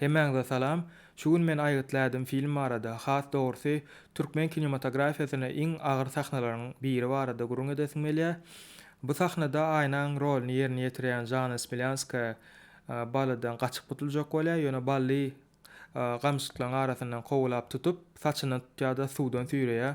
Hemmäňize salam. Şu gün men aýgytlädim film barada, has dogrusy, türkmen kinematografiýasynda iň agyr sahnalaryň biri barada gürrüň edesim gelýär. Bu sahnada Aýnaň roluny ýerine ýetirýän Žanna Smelýanskaýa Ballydan gaçyp gutuljak bolýar, ýöne Bally gamşytlaryň arasyndan kowalap tutup, Saçyndan tutýar-da, suwdan süýreýär.